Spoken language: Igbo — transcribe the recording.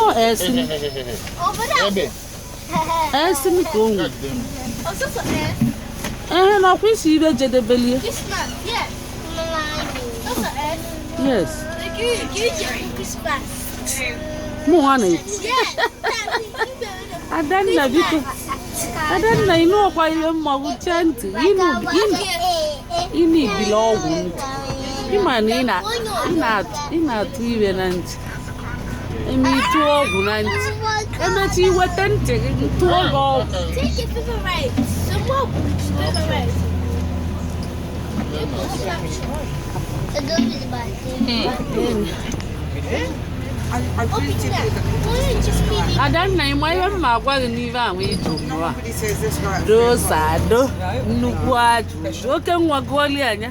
ọ esi esi m ka o nwere ehe na ọkwa isi ibe jedebelie yes mụ nwa na-ekwu adanna biko adanna ịnụ ọkwa ihe mmanwụ chee ntị ịnụ ibili ọgwụ ntị ịma na ị na-atụ ihe na ntị eme ịtụ ọgwụ na ntị emechi i weta ntị gị ntụ ọgwụ ọgwụ adanna ị ma ihe m ma agwa gị n'ihe ahụ ịjụ mụa dosa ado nnukwu ajụ oke nwa gụọli anya